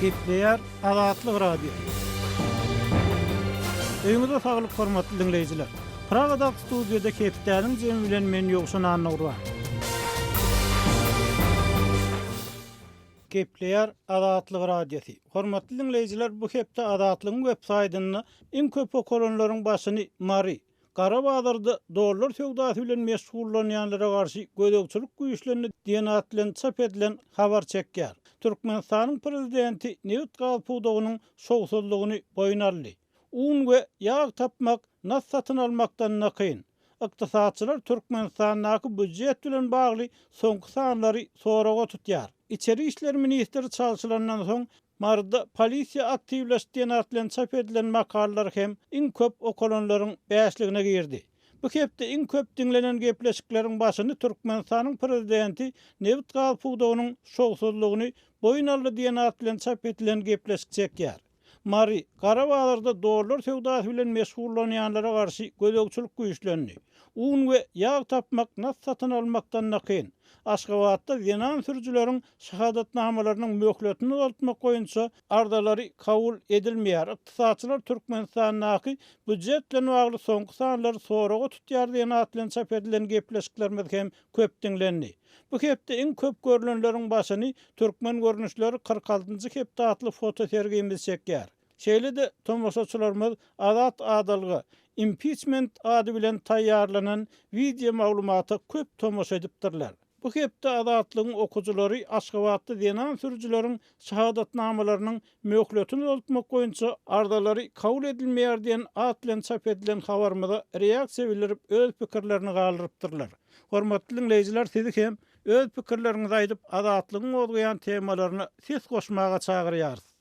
gepleýär Azatlyk Radio. Öýüňize saglyk hormatly diňleýjiler! Pragadaky studiýada Hepdäniň jemi bilen men Ýowşan Annagurban. Gepleýär Azatlyk Radiosy. Hormatly diňleýjiler, bu hepde Azatlygyň websaýtynda iň köp okalanlaryň başyny Mary, Gara bazarda dollar söwdasy bilen meşgullanýanlara garşy gözegçilik güýçlendi diýen at bilen çap edilen habar çekýär. Türkmenistanyň prezidenti nebit-gaz pudagynyň şowsuzlygyny boýun aldy. Un we ýag tapmak nas satyn almakdan-da kyn. Ykdysatçylar Türkmenistandaky býujet bilen bagly soňky sanlary soraga tutýar. Içeri işler ministri çalşylandan soň Maryda polisiýa aktiwleş diýen at bilen çap edilen makalalar hem iň köp okalanlaryň bäşligine girdi. Bu hepde iň köp diňlenen gepleşikleriň başyny Türkmenistanyň prezidenti nebit-gaz pudagynyň şowsuzlygyny boýun aldy diýen at bilen çap edilen gepleşik çekýär. Mary, Gara bazarda dollar söwdasy bilen meşgullanýanlara garşy gözegçilik güýçlendi. Un we ýag tapmak nas satyn almakdan-da kyn. Aşgabatda zenan sürüjileriň şahadatnamalarynyň möhletini uzaltmak boýunça arzalary kabul edilmeýär. Ykdysatçylar Türkmenistandaky býujet bilen bagly soňky sanlary soraga tutýar diýen at bilen çap edilen gepleşiklerimiz hem köp diňlendi. Bu hepde iň köp görlenleriň başyny Türkmen görnüşleri kyrk altynjy hepde atly fotosergimiz çekýär. Şeýle-de tomaşaçylarymyz Azat Adalga Impiçment ady bilen taýýarlanan wideo maglumata köp tomaşa edipdirler. Bu hepde Azatlygyň okyjylary Aşgabatda zenan sürüjileriň şahadatnamalarynyň möhletini uzaltmak boýunça arzalary kabul edilmeýär diýen at bilen çap edilen habarymyza reaksiýa bildirip öz pikirlerini galdyrypdyrlar. Hormatly diňleýjiler sizi hem öz pikirleriňizi aýdyp Azatlygyň gozgaýan temalaryna ses goşmaga çagyrýarys.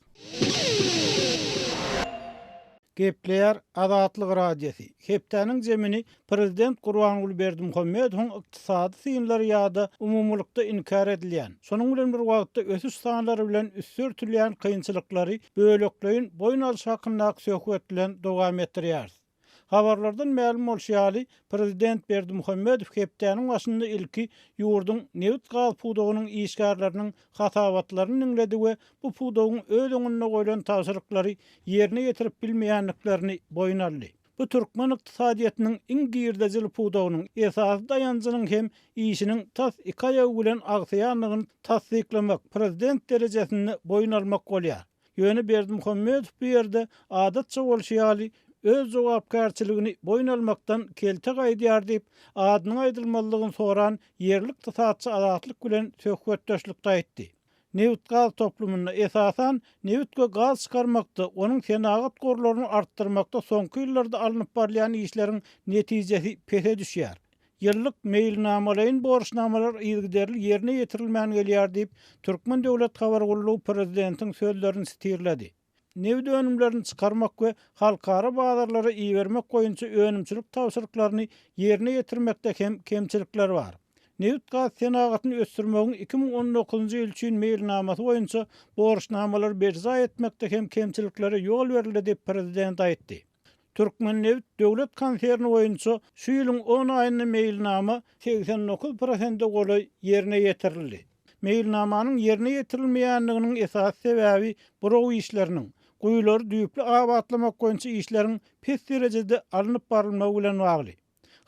Gepleýär Azatlyk Radiosy, Hepdäniň zemini prezident Gurbanguly Berdimuhamedowyň ykdysady synlary ýa-da umumylykda inkär edilýän, şonuň bilen bir wagtda ösüş sanlary bilen üsti örtülýän kynçylyklary bölekleýin boýun alşy hakyndaky söhbet bilen dowam etdirýäris. Habarlardan mälim bolşy ýaly, prezident Berdimuhamedow hepdäniň başynda ilki ýurduň nebit-gaz pudagynyň işgärleriniň hasabatlaryny diňledi we bu pudagyň öz öňünde goýlan tabşyryklary ýerine ýetirip bilmeýändiklerini boýun aldy. Bu türkmen ykdysadyýetiniň iň girdejili pudagynyň, esasy daýanjynyň hem işiniň tas iki aýagy bilen agsaýandygyny tassyklamak, prezident derejesinde boýun almak bolýar. Ýöne Berdimuhamedow bu ýerde, adatça bolşy ýaly, öz jogapkärçiligini boýun almakdan kelte gaýdýar diýip, adynyň aýdylmazlygyny soran ýerli ykdysatçy Azatlyk bilen söhbetdeşlikde aýtdy. Nebit-gaz toplumynda, esasan, nebit we gaz çykarmakda, onuň senagat gorlaryny artdyrmakda soňky ýyllarda alnyp barylýan işleriň netijesi pese düşýär. Ýyllyk meýilnamalaýyn borçnamalar yzygiderli ýerine ýetirilmän gelýär diýip, Türkmen döwlet habar gullugy prezidentiň sözlerini stirledi. Nebit önümlerini çykarmak we halkara bazarlara ibermek boýunça önümçilik tabşyryklaryny ýerine ýetirmekde hem kemçilikler bar. Nebitgaz senagatyny ösdürmegiň iki müň on dokuzynjy ýyl üçin meýilnamasy boýunça borçnamalary berjaý etmekde hem kemçiliklere ýol berildi diýip, prezident aýtdy. Türkmennebit döwlet konserni boýunça şu ýylyň on aýynda meýilnama segsen dokuz prosente golaý ýerine ýetirildi. Meýilnamanyň ýerine ýetirilmeýändiginiň esasy sebäbi buraw işleriniň, guýulary düýpli abatlamak boýunça işleriň pes derejede alnyp barylmagy bilen bagly.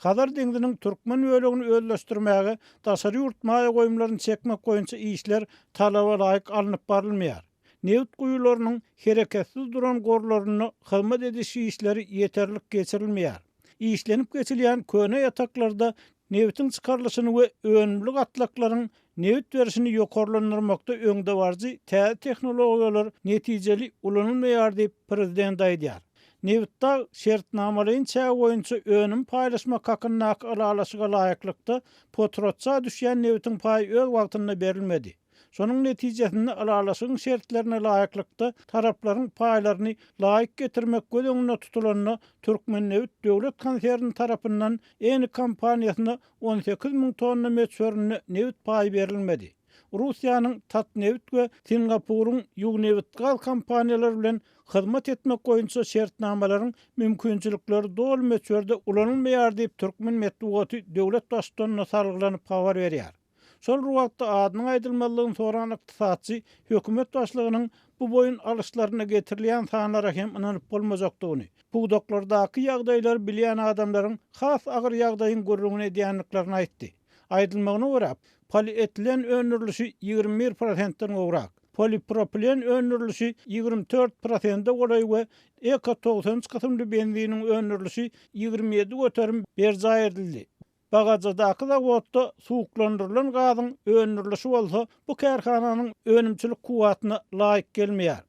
Hazar deňziniň türkmen bölegini özleşdirmäge daşary ýurt maýa goýumlaryny çekmek boýunça işler talaba laýyk alnyp barylmaýar. Nebit guýularynyň hereketsiz duran gorlarynda hyzmat ediş işleri ýeterlik geçirilmeýär. Işlenip geçilýän köne ýataklarda nebitiň çykarylyşyny we önümli gatlaklaryň Nebit berişini ýokarlandyrmakda öňdebaryjy täze tehnologiýalar netijeli ulanylmaýar diýip, prezident aýdýar. Nebitdag şertnamalaýyn çägi boýunça önüm paýlaşmak hakyndaky ylalaşyga laýyklykda, potratça düşýän nebitiň paýy öz wagtynda berilmedi. Şonuň netijesinde ylalaşygyň şertlerine laýyklykda taraplaryň paýlaryny laýyk getirmek göz öňünde tutulanda, Türkmennebit döwlet konserni tarapyndan Eni kompaniýasyna on sekiz müň tonna möçberinde nebit paýy berilmedi. Russiýanyň Tatneft we Singapuryň Yugnebitgaz kompaniýalary bilen hyzmat etmek boýunça şertnamalaryň mümkinçilikleri doly möçberde ulanylmaýar diýip türkmen metbugaty döwlet Baştutanyna salgylanyp habar berýär. Şol bir wagtda adynyň aýdylmazlygyny soran ykdysatçy hökümet başlygynyň Bu boýun alyşlaryna getirilýän sanlara hem ynanyp bolmajakdygyny, pudaklardaky ýagdaýlary bilýän adamlaryň has agyr ýagdaýyň gürrüňini edýändiklerini aýtdy. Aýdylmagyna görä, polietilen öndürilişi ýigrimi bir prosentden gowrak, polipropilen öndürilişi ýigrimi dört prosende golaý we Eko togsan üç kysymly benziniň öndürilişi ýigrimi ýedi göterim berjaý edildi. Bagajadaky zawodda suwuklandyrylan gazyň öndürilişi bolsa bu kärhananyň önümçilik kuwwatyna laýyk gelmeýär.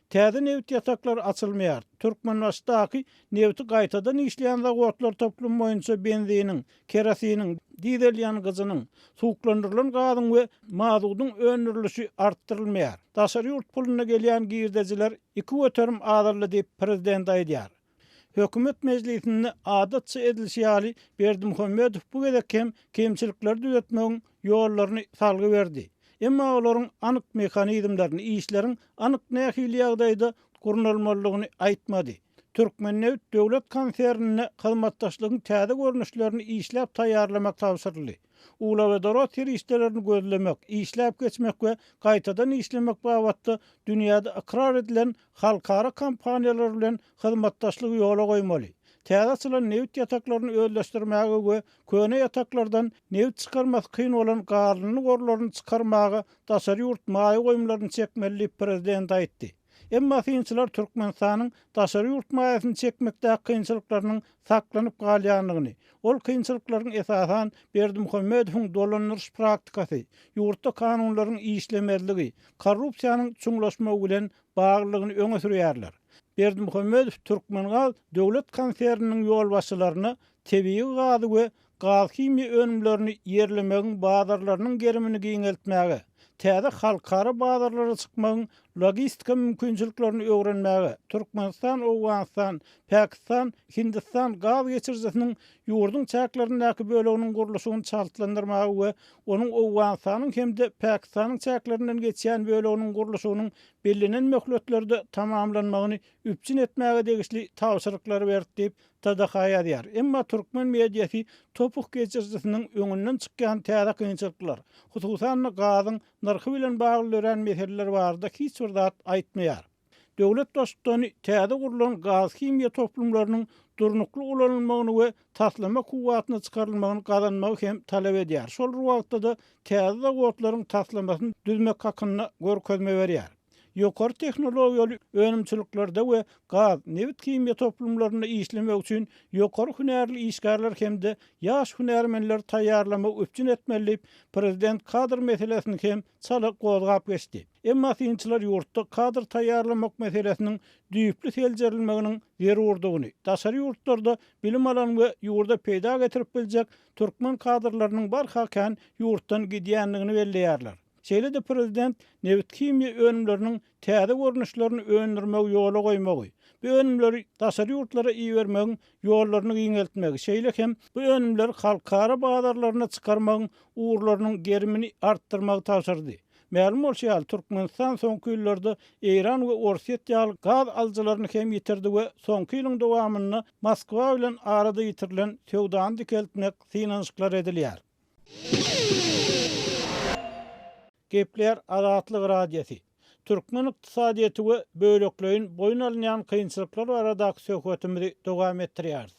Täze nebit ýataklary açylmaýar. Türkmenbaşydaky nebiti gaýtadan işleýän zawodlar toplumy boýunça benziniň, kerosiniň, dizel ýangyjynyň, suwuklandyrylan gazyň we mazudyň öndürilişi artdyrylmaýar. Daşary ýurt puluna gelýän girdejiler iki göterim azaldy diýip, prezident aýdýar. Hökümet mejlisinde adatça edilişi ýaly, Berdimuhamedow bu gezek hem kemçilikleri düzetmegiň ýollaryny salgy berdi. Emma olaryň anyk mehanizmlerini, işleriň anyk nähili ýagdaýda gurnalmalydygyny aýtmady. Türkmennebit döwlet konsernine hyzmatdaşlygyň täze görnüşlerini işläp taýýarlamak tabşyryldy. Uglewodorod serişdelerini gözlemek, işläp geçmek we gaýtadan işlemek babatda dünýäde ykrar edilen halkara kompaniýalary bilen hyzmatdaşlygy ýola goýmaly, täze açylan nebit ýataklaryny özleşdirmäge we köne ýataklardan nebit çykarmasy kyn bolan gazlyny gorlaryny çykarmaga daşary ýurt maýa goýumlaryny çekmeli diýip, prezident aýtdy. Emma synçylar Türkmenistanyň daşary ýurt maýasyny çekmekdäki kynçylyklarynyň saklanyp galýandygyny, ol kynçylyklaryň esasan Berdimuhamedowyň dolandyryş praktikasy, ýurtda kanunlaryň işlemezligi, korrupsiýanyň çuňlaşmagy bilen baglydygyny öňe sürýärler. Berdimuhamedow Türkmengaz döwlet konserniniň ýolbaşçylaryna tebigy gazy we gazhimiýa önümlerini ýerlemegiň bazarlarynyň gerimini giňeltmäge, täze halkara bazarlara çykmagyň logistika mümkinçiliklerini öwrenmäge Türkmenistan, Owganystan, Pakistan, Hindistan gaz geçirijisiniň ýurduň çäklerindäki böleginiň gurluşygyny çaltlandyrmaga we onuň Owganystanyň hem-de Pakistanyň çäklerinden geçýän böleginiň gurluşygynyň bellenen möhletlerde tamamlanmagyny üpjün etmäge degişli tabşyryklary berdi diýip, TDH ýazýar. Emma türkmen mediasy Topuh geçirijisiniň öňünden çykýan täze kynçylyklar, hususan-da gazyň nyrhy bilen bagly dörän meseleler barada hiç bir zat aýtmaýar. Döwlet Baştutany täze gurlan gazhimiýa toplumlarynyň durnukly ulanylmagyny we taslama kuwwatyna çykarylmagyny gazanmagy hem talap edýär, şol bir wagtda-da täze zawodlaryň taslamasyny düzmek hakynda görkezme berýär. ýokary tehnologiýaly önümçiliklerde we gaz, nebit himiýa toplumlarynda işlemek üçin ýokary hünärli işgärler hem-de ýaş hünärmenleri taýýarlamagy üpjün etmeli diýip, prezident kadr meselesini hem çala gozgap geçdi. Emma synçylar ýurtda kadr taýýarlamak meselesiniň düýpli seljerilmeginiň zerurdygyny, daşary ýurtlarda bilim alan we ýurda peýda getirip biljek türkmen kadrlarynyň barha kän ýurtdan gidýändigini belleýärler. Şeýle-de prezident nebithimiýa önümleriniň täze görnüşlerini öndürmegi ýola goýmagy, bu önümleri daşary ýurtlara ibermegiň ýollaryny giňeltmegi, şeýle hem bu önümleri halkara bazarlaryna çykarmagyň ugurlarynyň gerimini artdyrmagy tabşyrdy. Mälim bolşy ýaly, Türkmenistan soňky ýyllarda Eýran we Orsýet ýaly gaz alyjylaryny hem ýitirdi we soňky ýylyň dowamynda Moskwa bilen arada ýitirilen söwdany dikeltmek synanyşyklar edilýär. Gepleýär Azatlyk Radiosy. Türkmen ykdysadyýeti we bölekleýin boýun alynýan kynçylyklar baradaky söhbetimizi dowam etdirýäris.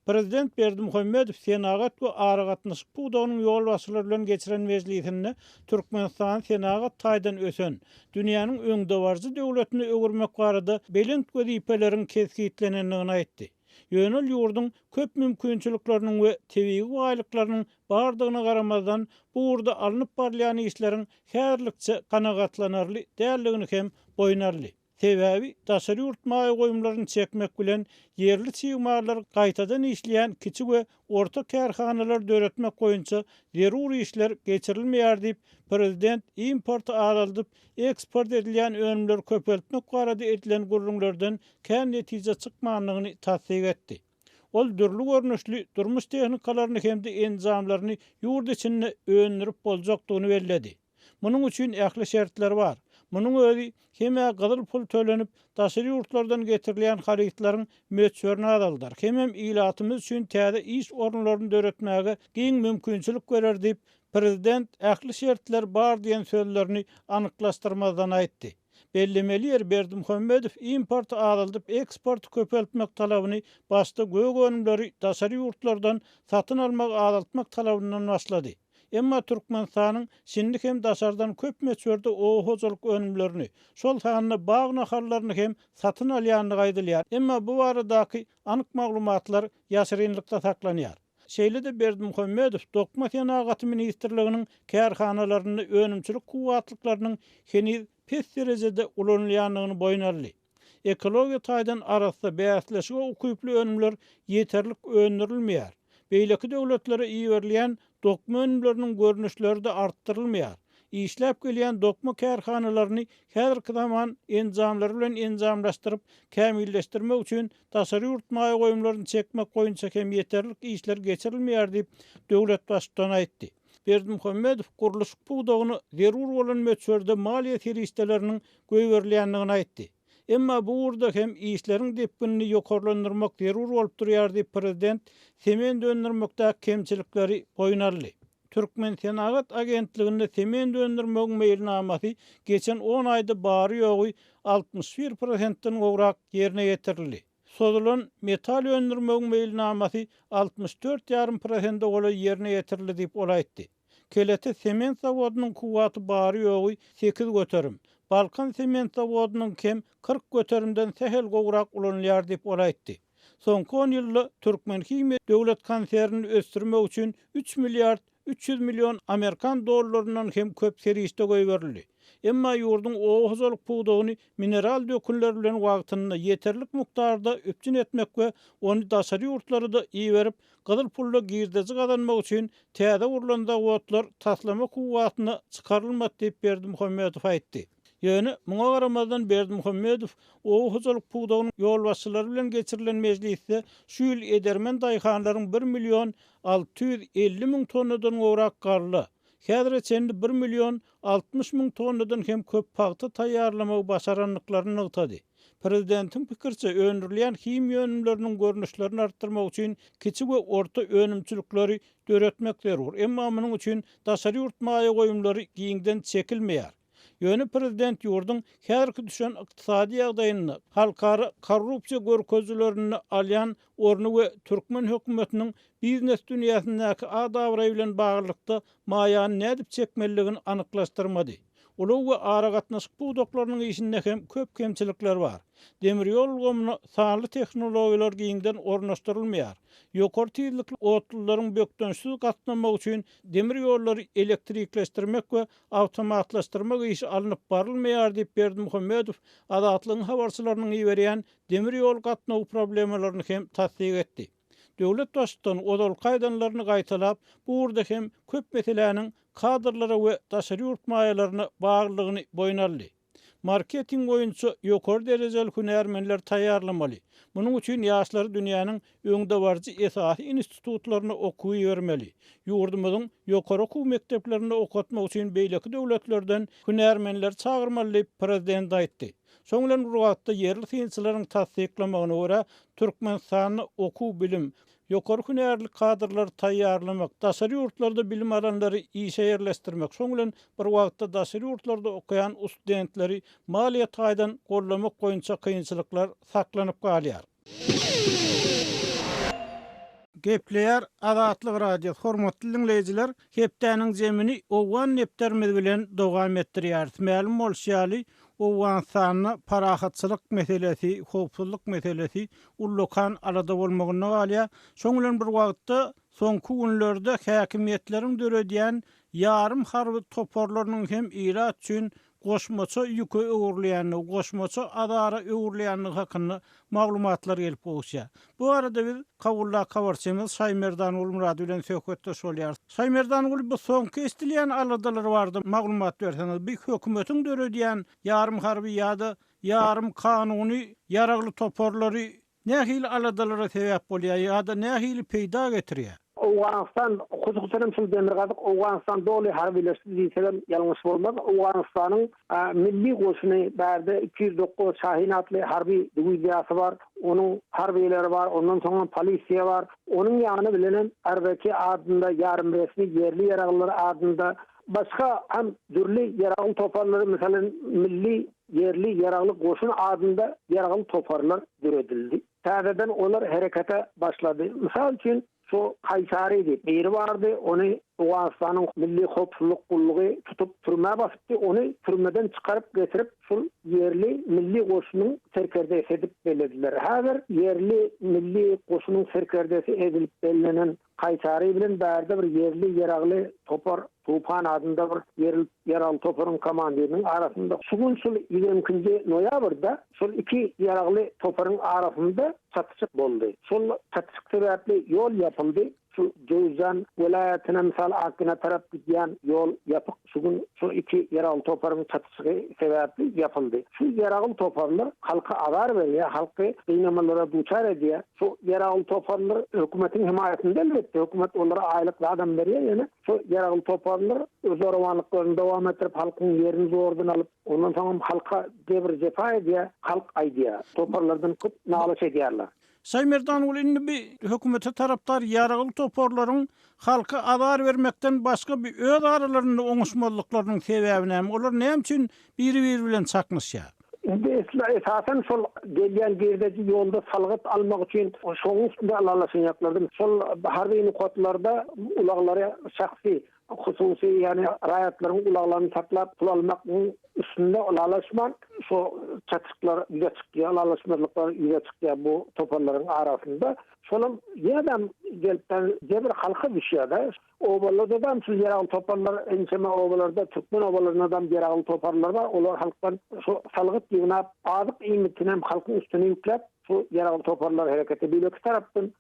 Prezident Berdimuhamedow senagat we aragatnaşyk pudagynyň ýolbaşçylary bilen geçiren mejlisinde Türkmenistany senagat taýdan ösen, dünýäniň öňdebaryjy döwletine öwürmek barada belent wezipeleriň kesgitlenendigini aýtdy. Ýöne ol ýurduň köp mümkinçilikleriniň we tebigy baýlyklarynyň bardygyna garamazdan, bu ugurda alnyp barylýan işleriň häzirlikçe kanagatlanarly däldigini hem boýun aldy. Sebäbi daşary ýurt maýa goýumlaryny çekmek bilen ýerli çig mallar gaýtadan işleýän kiçi we Orta kärhanalary döretmek boýunça zerur işler geçirilmeýär diýip, prezident importy azaldyp, eksport edilýän önümleri köpeltmek barada edilen gürrüňlerden kän netije çykmandygyny tassyk etdi. Ol dürli görnüşli durmuş tehnikalaryny hem-de enjamlaryny ýurt içinde öndürip boljakdygyny belledi. Munuň üçin ähli şertler bar. Munuň özi hem-ä gyzyl pul tölenip, daşary ýurtlardan getirilýän harytlaryň möçberini azaldar, hemem ilatymyz üçin täze iş orunlaryny döretmäge giň mümkinçilik berer diýip, prezident ähli şertler bar diýen sözlerini anyklaşdyrmazdan aýtdy. Bellemeli ýeri, Berdimuhamedow importy azaldyp, eksporty köpeltmek talabyny başda gök önümleri daşary ýurtlardan satyn almagy azaltmak talabyndan başlady. Emma Türkmenistanyň şindi hem daşardan köp möçberde oba hojalyk önümlerini, şol sanda bag nahallaryny hem satyn alýandygy aýdylýar, emma bu baradaky anyk maglumatlar ýaşyrynlykda saklanýar. Şeýle-de Berdimuhamedow Dokma senagaty ministrliginiň kärhanalarynda önümçilik kuwwatlyklarynyň heniz pes derejede ulanylýandygyny boýun aldy. Ekologiýa taýdan arassa, bäsleşige ukyply önümler ýeterlik öndürilmeýär. Beýleki döwletlere iberilýän dokma önümleriniň görnüşleri-de artdyrylmaýar. Işläp gelýän dokma kärhanalaryny häzirki zaman enjamlary bilen enjamlaşdyryp, kämilleşdirmek üçin Daşary ýurt maýa goýumlaryny çekmek boýunça hem ýeterlik işler geçirilmeýär diýip, döwlet Baştutany aýtdy. Berdimuhamedow gurluşyk pudagyna zerur bolan möçberde maliýe serişdeleriniň goýberilýändigini aýtdy. Emma bu ugurda hem işleriň depginini ýokarlandyrmak zerur bolup durýar diýip, prezident sement öndürmekdäki kemçilikleri boýun aldy. Türkmensenagat agentliginde sement öndürmegiň meýilnamasy geçen on aýda bary-ýogy altmyş bir prosentden gowrak ýerine ýetirildi. Sozulan metal öndürmegiň meýilnamasy altmyş dört ýarym prosende golaý ýerine ýetirildi diýip, ol aýtdy. Kelete sement zawodynyň kuwwaty bary-ýogy sekiz göterim, Balkan sement zawodynyňkem kyrk göterimden sähel gowrak ulanylýar diýip, ol aýtdy. Soňky on ýylda Türkmenhimiýa döwlet konsernini ösdürmek üçin üç milliard üç ýüz million amerikan dollaryndan hem köp serişde goýberildi. Emma ýurduň oba hojalyk pudagyny mineral dökünler bilen wagtynda, ýeterlik mukdarda üpjün etmek we ony daşary ýurtlara-da iberip, gyzyl pulla girdeji gazanmak üçin täze gurlan zawodlar taslama kuwwatyna çykarylmady diýip Berdimuhamedow aýtdy. Ýöne, muňa garamazdan, Berdimuhamedow oba hojalyk pudagynyň ýolbaşçylary bilen geçirilen mejlisde şu ýyl edermen daýhanlaryň bir million alty ýüz elli müň tonnadan gowrak galla, häzire çenli bir million altmyş müň tonnadan hem köp pagta taýýarlamagy başarandyklaryny nygtady. Prezidentiň pikiriçe, öndürilýän himiýa önümleriniň görnüşlerini artdyrmak üçin kiçi we orta önümçilikleri döretmek zerur, emma munuň üçin daşary ýurt maýa goýumlary giňden çekilmeýär. Ýöne prezident ýurduň häzirki düşen ykdysady ýagdaýynda, halkara korrupsiýa görkezilerinde alýan orny we türkmen hökümetiniň biznes dünýäsindäki ad-abraýy bilen baglylykda maýany nädip çekmelidigini anyklaşdyrmady. Ulag we aragatnaşyk pudaklarynyň işinde hem köp kemçilikler bar. Demir ýol ulgamyna sanly tehnologiýalar giňden ornaşdyrylmaýar. Ýokary tizlikli otlularyň bökdençsiz gatnamagy üçin demir ýollary elektrikleşdirmek we Awtomatlaşdyrmak işi alnyp barylmaýar diýip, Berdimuhamedow Azatlygyň habarçylarynyň iberýän demir ýol gatnawy problemalaryny hem tassyk etdi. Döwlet Baştutan ozalky aýdanlaryny gaýtalap, bu ugurda hem köp meseläniň kadrlara we daşary ýurt maýalaryna baglylygyny boýun aldy. Marketing boýunça ýokary derejeli hünärmenleri taýýarlamaly. Munuň üçin ýaşlary dünýäniň öňdebaryjy esasy institutlaryna okuwa ibermeli. Ýurdumyzyň ýokary okuw mekdeplerinde okatmak üçin beýleki döwletlerden hünärmenleri çagyrmaly diýip, Prezident aýtdy. Şonuň bilen bir wagtda, ýerli synçylaryň tassyklamagyna görä, Türkmenistanda okuw-bilim, ýokary hünärli kadrlary taýýarlamak, daşary ýurtlarda bilim alanlary işe ýerleşdirmek, şonuň bilen bir wagtda daşary ýurtlarda okaýan ustdentleri maliýe taýdan goldamak boýunça kynçylyklar saklanyp galýar. Gepleýär Azatlyk Radiosy, Hormatly diňleýjiler, Hepdäniň jemini owgan nepderimiz bilen dowam etdirýäris. Mälim bolşy ýaly, Owganystanda parahatçylyk meselesi, howpsuzlyk meselesi ullakan alada bolmagynda galýar. Şoň bilen bir wagtda, soňky günlerde häkimiýetleriň döredýän ýarym harby toparlarynyň hem ilat üçin goşmaça ýüke öwrülýändigi, goşmaça azara öwrülýändigi hakynda maglumatlar gelip gowuşýar. Bu barada biz Kabuldaky habarçymyz Şaýmerdan Gulmyrad bilen söhbetdeş bolýarys. Şaýmerdan Gul, bu soňky eşdilýän aladalar barada maglumat berseňiz, bu hökümetiň döredýän ýarym harby ýa-da ýarym kanuny ýaragly toparlary nähili aladalara sebäp bolýar ýa-da nähili peýda getirýär? Owganystan, hususan hem şol Demirgazyk Owganystan doly harbylaşdy diýsegem ýalňyş bolmaz. Owganystanyň milli goşuny, bärde iki ýüz dokuz Şahin atly harby diwiziýasy bar, onuň harbylary bar, ondan soň hem polisiýa bar. Onuň ýany bilen hem RVK adynda ýarymresmi ýerli ýaraglylar adynda Başga hem dürli ýaragly toparlar, meselem, Milli, ýerli ýaragly goşun adynda ýaragly toparlar döredildi. Täzeden olar herekete başlady. Mysal üçin, şu Kaýsary diýip, biri bardy, ony Owganystanyň Milli howpsuzlyk gullugy tutup, türmä basypdy, ony türmeden çykaryp getirip, şul ýerli milli goşunyň serkerdesi edip bellediler. Häzir ýerli milli goşunyň serkerdesi edilip bellenen Kaýsary bilen bärde bir ýerli ýeragly topar Tupan adynda bir ýerli ýeragly toparyň komandiriniň arasynda şu gün şul ýigrimi ikinji noýabrda şol iki ýeragly toparyň arasynda çatyşyk boldy. Şol çatyşyk sebäpli ýol ýapyldy. Şu Jöwüzjan welaýatyna, mysal Akgina tarap gidýän ýol ýapyk. Şu gün şu iki ýeragym toparyň çatyşygy sebäpli ýapyldy. Şu ýeragym toparlar halka azar berýär, halky gynamalara duçar edýär. Şu ýeragym toparlar hökümetiň hemaýatynda elbetde, hökümet olara aýlyk zadam berýär, ýöne şu ýeragym toparlar öz zorawanlyklaryny dowam etdirip, halkyň ýerini zordan alyp, ondan soňam halka jebir-jepa edýär, halk aýdýar, toparlardan köp nalyş edýärler. Şaýmerdanogly indi bi hökümete tarapdar ýaragly toparlaryň halka azar bermekden başga bi öz aralarynda oňuşmazlyklarynyň sebäbi näme, olar näme üçin biri-biri bilen çaknyşýar? Indi esli esasan şol gelýän girdeji ýolda salgyt almak üçin şoň üstünde alalaşanýaklardy. Şol harby nokatlarda ulaglary şahsy hususy, ýagny raýatlaryň ulaglaryny saklap pul almagyň üstünde ylalaşman, şu çatyşyklar ýüze çykýar, ylalaşmazlyklar ýüze çykýar bu toparlaryň arasynda. Şolam ýene-dem gelipden jebir halka düşýär-de. Obalardadam şu ýeragly toparlar, ençeme obalarda, türkmen obalaryndadam ýeragly toparlar bar. Olar halkdan şu salgyt ýygnap, azyk iýmitinem halkyň üstüne ýükläp, Şu ýaragly toparlar hereketi beýleki tarapdan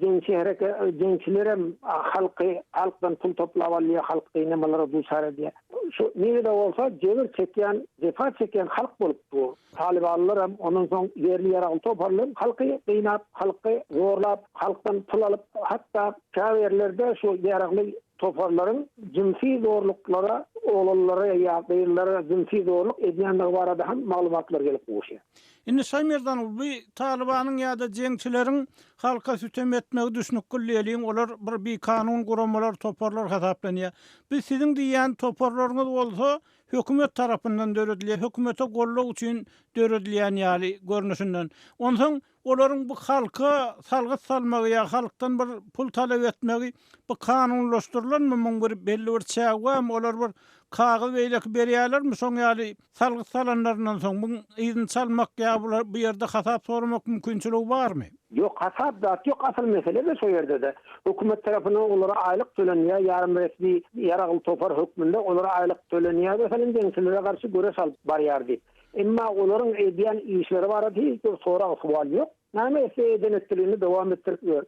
jeňçi hereke jeňçilerem halky halkdan pul toplap alýar halk gynamalara duçar edýär. Şu nirede bolsa jebir çekýän jepa çekýän halk bolup dur. Talybanlaram ondan soň ýerli ýaragly toparlaram halky gynap halky zorlap halkdan pul alyp hatda käbirlerde şu ýaragly toparlaryň jynsy zorluklara oglanlara ýa gyzlara jynsy zorluk edýändigi barada hem maglumatlar gelip gowuşýar. Indi Şaýmerdan Ulby Talybanyň ýa-da jeňçileriň halka sütem etmegi düşnükgil diýeliň, olar bir bikanun guramalar, toparlar hasaplanýar. Biz siziň diýýän toparlaryňyz bolsa hökümet tarapyndan döredilýär, hökümete gollag üçin döredilýän ýaly görnüşinden. Onsoň olaryň bu halka salgyt salmagy ýa halkdan bir pul talap etmegi bu kanunlaşdyrylanmy, muň bir belli bir çägi barmy, olar bir kagyz beýleki berýärlermi şoň ýaly Salgyt salanlaryndan soň muň yzyny çalmak ýa bular bu ýerde hasap soramak mümkinçiligi barmy? Ýok hasap zat ýok asyl meselede şo ýerdede hökümet tarapyndan olara aýlyk tölenýär ýarym resmi ýaragly topar hökmünde olara aýlyk tölenýär meselem jeňçilere garşy göreş alyp barýar diýip emma olaryň edýän işleri barada hiç bir sorag suwal ýok näme etse eden etdiligini dowam etdirip ýör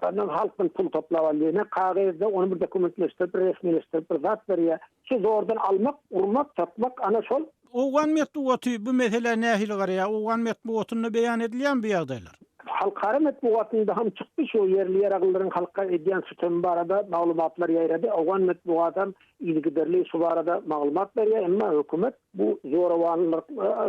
ondan halkdan pul toplap alýar ne kagezde ony bir dokumentleşdirip bir resmileşdirip bir zat berýär Şu zordan almak, urmak, satmak ana şol. Owgan metbugaty bu meselä nähili garaýar? Owgan metbugatynda beýan edilýärmi bu ýagdaýlar? Halkara metbugatynda hem çykdy şu ýerli ýeraglylaryň halka edýän sütemi barada maglumatlar ýaýrady. Owgan metbugaty hem yzygiderli şu barada maglumat berýär, emma hökümet Bu zorawanlyk,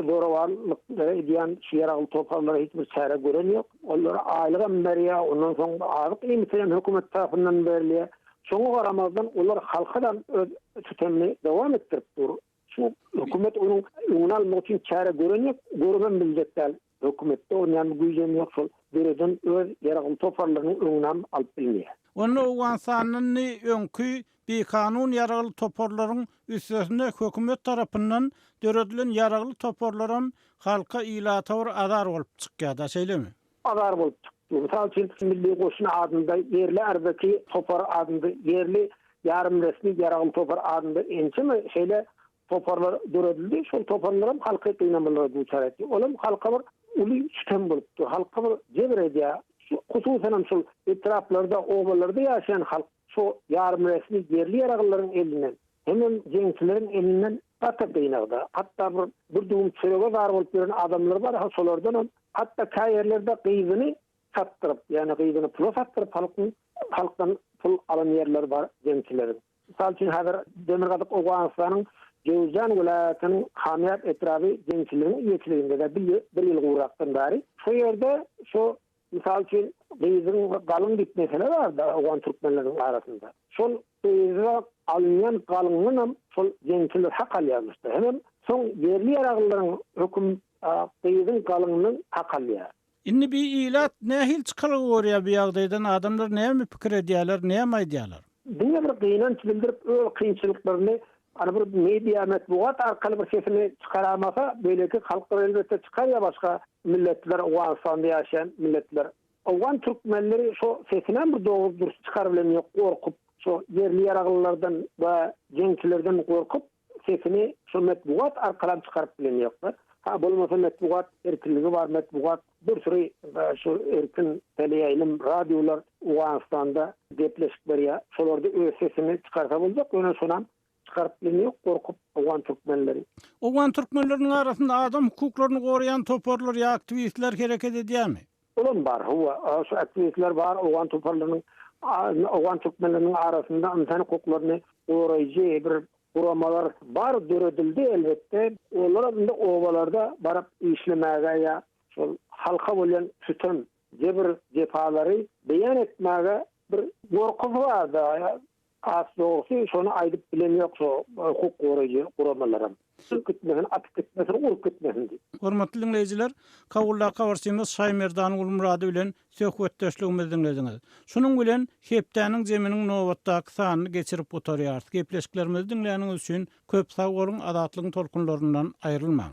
zorawanlyk edýän şu ýaragly toparlara hiç bir çäre gören ýok. Ollara aýlygam berýär, ondan soň azyk-iýmiti hem hökümet tarapyndan berilýär. Şoňa garamazdan, olar halka da öz sütemini dowam etdirip dur. Şu hökümet onuň öňüni almak üçin çäre gören ýok, görübem biljek däl. Hökümetde onýan bir güýj hem ýok şol döreden öz ýaragly toparlarynyň öňünem alyp bilmeýä. Onda Owganystandan ni öňki bikanun ýaragly toparlaryň üstesine hökümet tarapyndan döredilen ýaragly toparlaram halka ilata bir azar bolup çykýada şeýlemi? Azar bolup çyk. Mysal üçin milli goşun adynda ýerli arzaki topar adynda ýerli ýarym resmi ýaragly topar adynda ençeme şeýle Toparlar döredildi. Şol toparlaram halky gynamalara duçar etdi. Ol hem halka bir uly sütem bolup dur. Halka bir jebir edýär. Şu hususanam şol etraplarda, obalarda ýaşaýan halk şu ýarymresmi ýerli ýaraglylaryň elinden hemem jeňçileriň elinden gaty gynagda. Hatda bir bir düwüm çörege zar bolup ýören adamlar bar, ha şolardanam hatda käýerlerde gyzyny satdyryp, ýagny gyzyny pula satdyryp halkyň halkdan pul alan ýerleri bar jeňçileriň. Mysal üçin, häzir Demirgazyk Owganystanyň Jowzjan welaýatynyň Hamýat etraby jemçiliginiň eýeçiliginde-de bir ýyl gurakdan bäri şo ýerde şu, mysal üçin, gyzyň galyň diýip mesele bar-da owgan türkmenleriniň arasynda. Şol gyza alynýan galyndanam şol jemçiler hak alýarmyş-da. Hemem soň ýerli-ýaraglylaryň höküm gyzyň galyndan hak alýar. Indi bi ilat nähili çykalga görýär bu ýagdaýdan adamlar näme pikir edýärler näme aýdýarlar. Diňe bir gynanç bildirip öz kynçylyklaryny ana bir media metbugat arkaly bir sesini çykaramasa beýleki halklar elbetde çykar ýa başga milletler Owganystanda ýaşaýan milletler. Owgan türkmenleri şo sesinem bir dogry dürs çykaryp bilen ýok gorkup şo ýerli ýaraglylardan we jeňçilerden gorkup. Sesini şo metbugat arkalam çykaryp bilen ýokmy? Ha bolmasa metbugat erkinligi bar metbugat bir süri şu erkin teleýaýlym radiolar Owganystanda gepleşik berýär şolarda öz sesini çykarsa boljak ýöne şonam çykaryp bilen ýok gorkup owgan türkmenleri. Owgan türkmenleriniň arasynda adam hukuklaryny goraýan toparlar ýa aktiwistler hereket edýärmi? Olam bar, hawa, şu aktiwistler bar, owgan toparlarynyň, owgan türkmenleriniň arasynda ynsan hukuklaryny goraýjy bir guramalar bar, döredildi, elbetde. Olaram indi obalarda baryp işlemäge ýa şol halka bolýan sütem, jebir-jepalary beýan etmäge bir gorkusy bar-da, Has dogrusy, şony aýdyp bilenýok şu hukuk goraýjy guramalaram. Çykyp gitmesin, atyp gitmesin, urup gitmesin diýip. Hormatly diňleýjiler, Kabuldaky habarçymyz Şaýmerdan Gulmyrady bilen söhbetdeşligimizi diňlediňiz. Şunuň bilen Hepdäniň jeminiň nobatdaky sanyny geçirip gutarýarys. Gepleşiklerimizi diňläniňiz üçin köp sag boluň, Azatlygyň tolkunlaryndan aýrylmaň!